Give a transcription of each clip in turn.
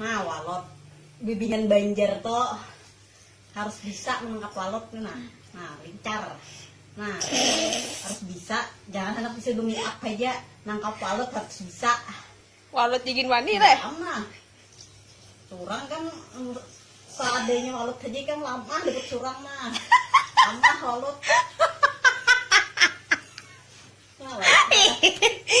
Nah walot bibinian banjar to harus bisa menangkap walot ni nah nah lincar nah harus bisa jangan handak bisa bemake up haja nangkap walot harus bisa Walot jigin wani leh. Malam nah surang kan mm, seadanya walot haja ikam lamah dapat surang nah lamah walot Nah, walot.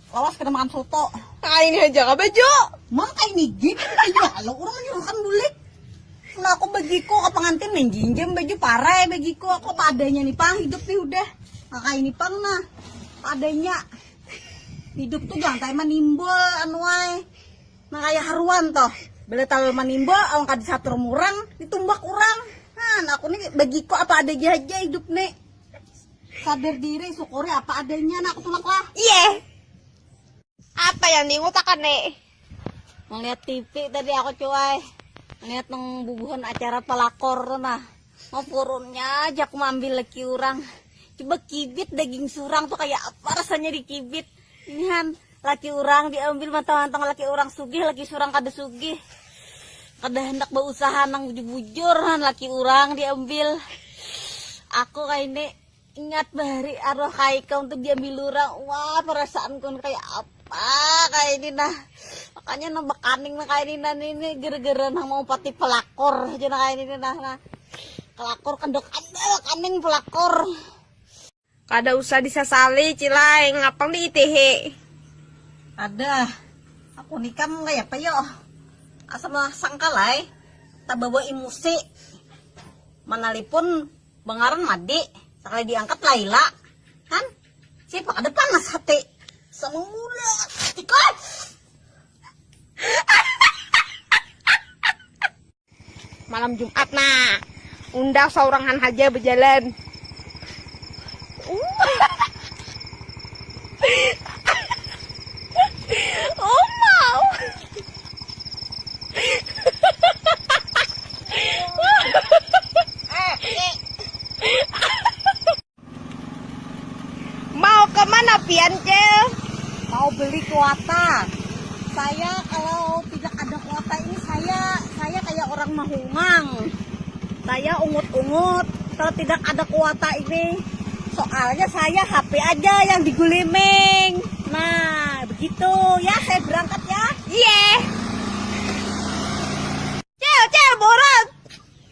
Lawas kada makan soto. Kaini haja ka baju. Mang kaini gin baju alo urang menyuruhkan bulik. Nah aku bagiku ke pengantin menjinjam baju parai bagiku aku padanya nih pang hidup nih udah. Nah kaini pang nah padanya hidup tuh jangan tayang manimbul anuai. Nah kaya haruan toh bila talu manimbul awan kada disatur murang ditumbak urang. Nah aku nih bagiku apa adanya haja hidup nih. Sader diri, syukuri apa adanya nak tulak lah. Iya. Apa yang diutakan nih? Ngeliat TV tadi aku cuai. Ngeliat nang bubuhan acara pelakor nah. Mau purunnya aja aku ambil lagi orang. Coba kibit daging surang tuh kayak apa rasanya di kibit. Inihan laki urang diambil mantang-mantang laki urang sugih, laki surang kada sugih. Kada handak bausaha nang bujur-bujur han laki urang diambil. Aku kaini ingat bahari arwah kaikam tu diambil urang, wah perasaanku nang kaya apa kaini nah. Makanya nang bakaning nang kaini nah ini gara-gara nang maumpati pelakor haja nang kaini nah. Kelakor kada kada bakaning pelakor. Kada usah disasali cilai ngapang di itihi. Adah aku ni kam kayapa yo asa masangkal ai tabawa imusi manalipun bangaran madi sakali diangkat laila han siapa kada panas hati samangula ikam. Malam Jumat nah, unda saurangan haja bejalan. mau kemana pian cil mau beli kuota saya kalau tidak ada kuota ini saya saya kayak orang mahungang saya ungut-ungut kalau tidak ada kuota ini soalnya saya HP aja yang diguliming nah begitu ya saya berangkat ya iya yeah. cil cil boros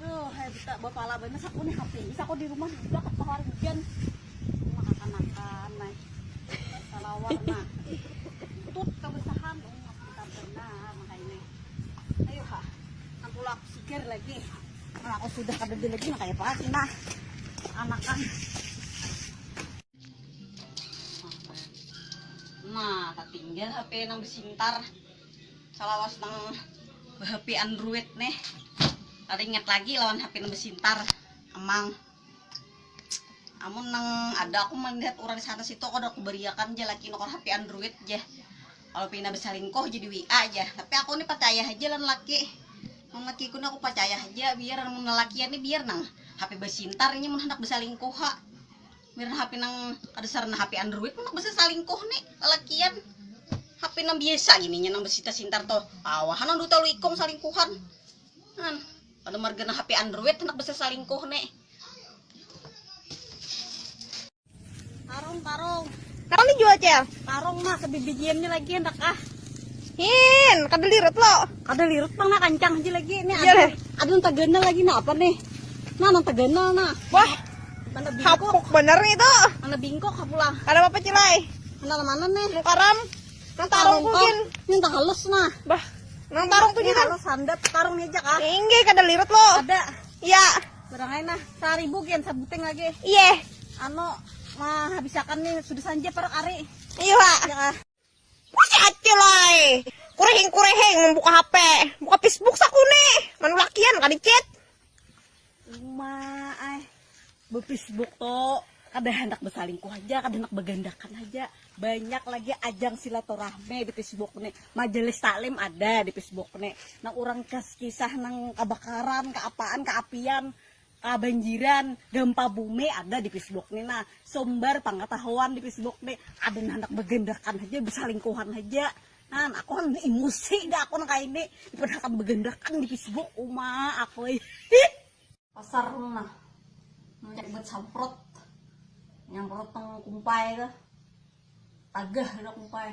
Aduh, hai buta bapala banyak aku nih HP. Bisa aku di rumah juga kata hari hujan. Cuma kakanakan nah. Salawar nah. Tut kebersahan oh kita benar maka ini. Ayo ha. Aku lak sigar lagi. Nah, aku sudah kada di lagi makanya pas nah. Anakan. Nah, tertinggal HP nang besintar. Salawas nang behapi android nih kada ingat lagi lawan hapi nang besintar amang amun nang ada aku melihat urang di sana situ kada kubariakan ja laki nukar hapi android ja kalu pina besalingkuh ja di WA ja tapi aku nih pacaya haja lawan laki mun laki ku nih aku pacaya haja biar mun lalakian nih biar nang hapi besintar inya mun handak besalingkuh ha. Mirna hape nang kada sarana hape android handak basasalingkuh ni lalakian. Hape nang biasa gini nya nang basitar-sintar tuh. Kawa ha nang duta lu ikung salingkuhan. An, kada marga nang hape android handak basasalingkuh ni. Karung, karung. Karung dijual, Cel? Karung mah kebibijian ni lagi handak ah. Hin, kada lirut lo. Kada lirut pang nah kancang aja lagi. Ni ada, ada nang taganal lagi nah apa nih? Nah nang taganal nah. Wah, Mana bingkok? Hapuk bener itu. Mana bingkok pulang. Kada apa-apa cilai. Mana mana nih? Nang karam. Nang tarung kucing. Ini tak halus nah. Bah. Nang tarung tuh kan. Halus handat tarung aja kah? Inggih kada lirut lo. Ada. Iya. Barang aja nah. Saribu kian sabuting lagi. Iya. Anu mah habisakan nih sudah sanja parak ari. Iya. Ya kah? Masih acil ay. Kureheng-kureheng membuka HP. Buka Facebook sakuni. Manu lakian kada chat. Uma ay. Befacebook to kada handak besalingkuh aja, kada handak begandakan aja. Banyak lagi ajang silaturahmi di Facebook ni. Majelis taklim ada di Facebook ni. Nang urang kes kisah nang kabakaran, kaapaan, kaapian. Kabanjiran, Gempa Bumi ada di Facebook ni nah, sumber pangatahuan di Facebook ni, ada nang handak bagandakan haja, basalingkuhan haja, nah aku handak emosi dah aku nang kaya ini, daripada hakun bagandakan di Facebook, uma aku ai hih. Pasar tu nah, munnya buat samprot, nyamprot nang kumpai tu, tagah sudah kumpai.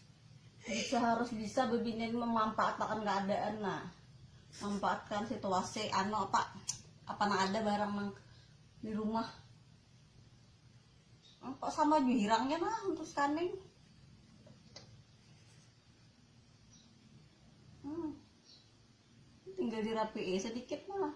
Bisa harus bisa bebini ini memanfaatkan keadaan nah. Manfaatkan situasi anu apa apa nang ada barang nang di rumah. Nah, kok sama jihirangnya nah untuk scanning. Hmm. Tinggal dirapiin sedikit mah.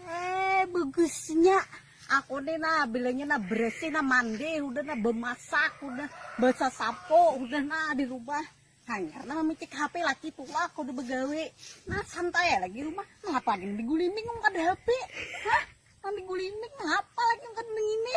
Hee bagusnya aku nih nah bilanya nah bersih nah mandi udah nah bemasak udah besasapo udah nah di rumah hanyar nah mamicik HP laki tulak udah begawe nah santai lagi rumah ngapa lagi diguliming kada HP hah nang diguliming ngapa lagi kada nang ini